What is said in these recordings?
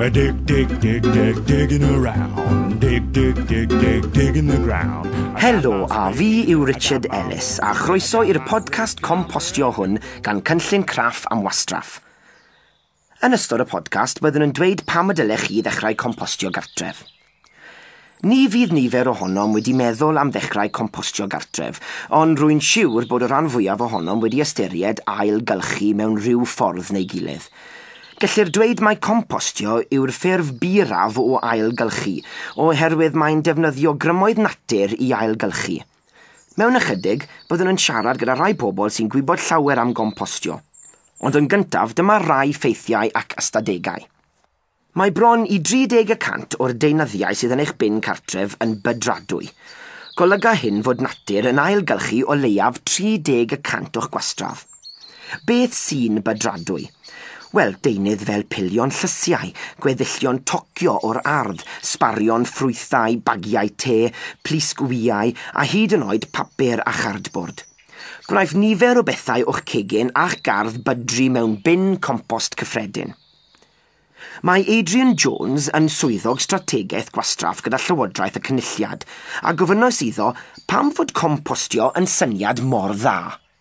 A dig, dig, dig, dig, digging around. Dig, dig, dig, dig, digging the ground. Helo, a fi yw Richard Ellis, a chroeso i'r podcast compostio hwn gan Cynllun Craff am Wastraff. Yn ystod y podcast, byddwn yn dweud pam y dylech chi ddechrau compostio gartref. Ni fydd nifer ohonom wedi meddwl am ddechrau compostio gartref, ond rwy'n siwr bod y rhan fwyaf ohonom wedi ystyried ail-gylchu mewn rhyw ffordd neu gilydd. Gellir dweud mai compostio yw'r ffurf byraf o ail-gylchu, oherwydd mae'n defnyddio grymoedd natur i ail-gylchu. Mewn ychydig, byddwn yn siarad gyda rhai pobl sy'n gwybod llawer am gompostio. Ond yn gyntaf, dyma rai ffeithiau ac ystadegau. Mae bron i 30 y cant o'r deunyddiau sydd yn eich bin cartref yn bydradwy. Golyga hyn fod natur yn ailgylchu o leiaf 30 y cant o'ch gwastraff. Beth sy'n bydradwy? Wel, deunydd fel pilion llysiau, gweddillion tocio o'r ardd, sbarion ffrwythau, bagiau te, plisg wyau, a hyd yn oed papur a chardbord. Gwnaeth nifer o bethau o'ch cegin a'ch gardd bydru mewn bin compost cyffredin. Mae Adrian Jones yn Swyddog Strategaeth Gwastraff gyda Llywodraeth y Cynulliad, a gofynnais iddo pam fod compostio yn syniad mor dda.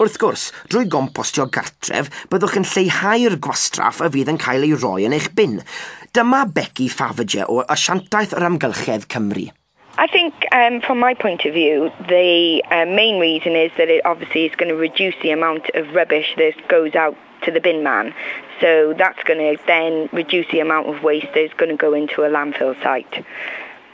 Wrth gwrs, drwy gompostio gartref, byddwch yn lleihau'r gwastraff a fydd yn cael ei roi yn eich bin. Dyma Becky Faverger o Asiantaeth yr Amgylchedd Cymru. I think um, from my point of view, the uh, main reason is that it obviously is going to reduce the amount of rubbish that goes out to the bin man. So that's going to then reduce the amount of waste that is going to go into a landfill site.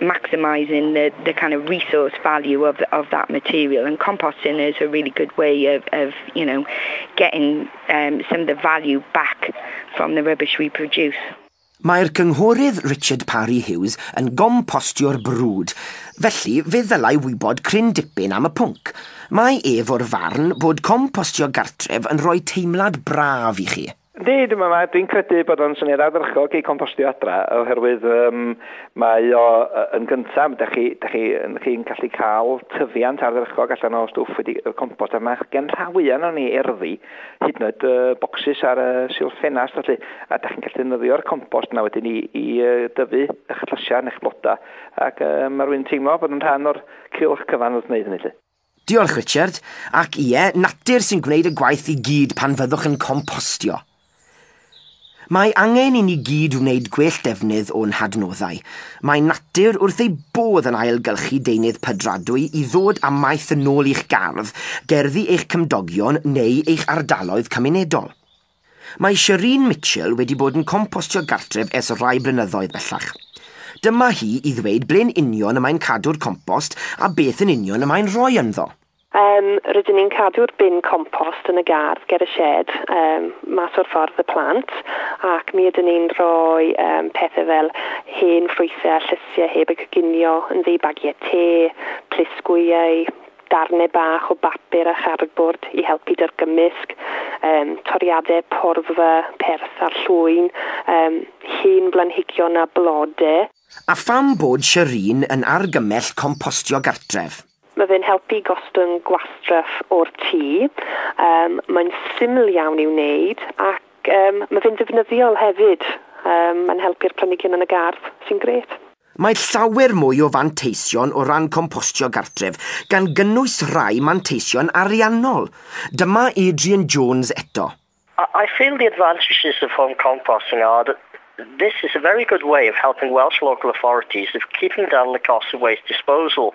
maximising the, the kind of resource value of, of that material. And composting is a really good way of, of you know, getting um, some of the value back from the rubbish we produce. Mae'r cynghorydd Richard Parry Hughes yn gompostio'r brwd, felly fe ddylai wybod cryn dipyn am y pwnc. Mae ef o'r farn bod compostio gartref yn rhoi teimlad braf i chi. Yndi, dwi'n meddwl mae... dwi'n credu bod o'n syniad ardderchog i compostio adra, oherwydd um, mae o yn gyntaf, da chi, da chi, chi'n gallu cael tyfiant ardderchog allan o stwff wedi y compost, a mae gen rhawy yno ni erddi, hyd yn oed uh, bocsys ar y uh, silff ffenast, felly, a da chi'n gallu defnyddio'r compost yna wedyn i, i uh, dyfu eich llysiau neu'ch blodau, ac uh, mae rwy'n teimlo bod yn rhan o'r cilch cyfan wrth wneud hynny. Lle. Diolch, Richard. Ac ie, natur sy'n gwneud y gwaith i gyd pan fyddwch yn compostio. Mae angen i ni gyd wneud gwell defnydd o'n hadnoddau. Mae natur wrth ei bodd yn ailgylchu deunydd pydradwy i ddod â maeth yn ôl i'ch gardd, gerddi eich cymdogion neu eich ardaloedd cymunedol. Mae Shereen Mitchell wedi bod yn compostio gartref ers rhai blynyddoedd bellach. Dyma hi i ddweud ble'n union y mae'n cadw'r compost a beth yn union y mae'n rhoi ynddo. Yym, rydyn ni'n cadw'r bin compost yn y gardd ger y sied, yym, mas o'r ffordd y plant, ac mi ydyn ni'n rhoi yym pethe fel hen ffrwythe a llysie heb eu coginio yn ddi, bagiau te, plisgwyau, darnau bach o bapur a chardbwrdd i helpu 'da'r gymysg, um, toriadau porfa, perth a llwyn, um, hen blanhigion a blode. A pham bod Shireen yn argymell compostio gartref? Mae fe'n helpu gostwng gwastraff o'r tŷ, um, mae'n syml iawn i'w wneud ac um, mae fe'n ddefnyddiol hefyd. Um, mae'n helpu'r planhigion yn y gardd, sy'n grêt. Mae llawer mwy o fanteision o ran compostio gartref, gan gynnwys rhai manteision ariannol. Dyma Adrian Jones eto. I feel the advantages of home composting are that this is a very good way of helping Welsh local authorities of keeping down the costs of waste disposal.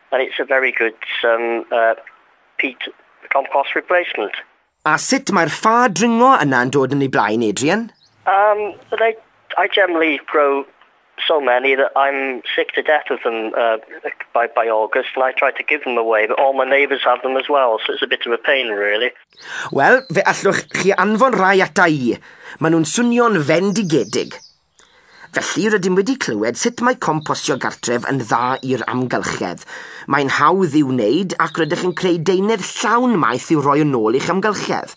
And it's a very good um, uh, peat compost replacement. A sut mae'r ffa dringo yna yn dod yn ei blaen, Adrian? Um, but I, I generally grow so many that I'm sick to death of them uh, by, by August and I try to give them away, but all my neighbours have them as well, so it's a bit of a pain really. Wel, fe allwch chi anfon rai ata i. Maen nhw'n swnio'n fendigedig. Felly, rydym wedi clywed sut mae compostio gartref yn dda i'r amgylchedd. Mae'n hawdd i'w wneud ac rydych yn creu deunydd llawn maeth i'w roi yn ôl i'ch amgylchedd.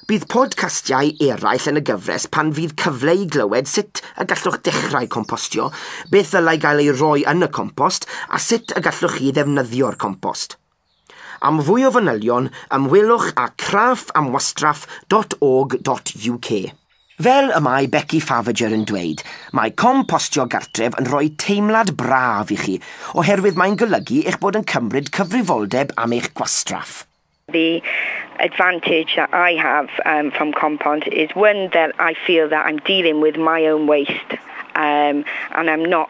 Bydd podcastiau eraill yn y gyfres pan fydd cyfle i glywed sut y gallwch dechrau compostio, beth ddylai gael ei roi yn y compost a sut y gallwch chi ddefnyddio'r compost. Am fwy o fanylion, ymwelwch â craffamwastraff.org.uk. Fel y mae Becky Faviger yn dweud, mae compostio gartref yn rhoi teimlad braf i chi, oherwydd mae'n golygu eich bod yn cymryd cyfrifoldeb am eich gwastraff. The advantage that I have um, from compost is one that I feel that I'm dealing with my own waste um, and I'm not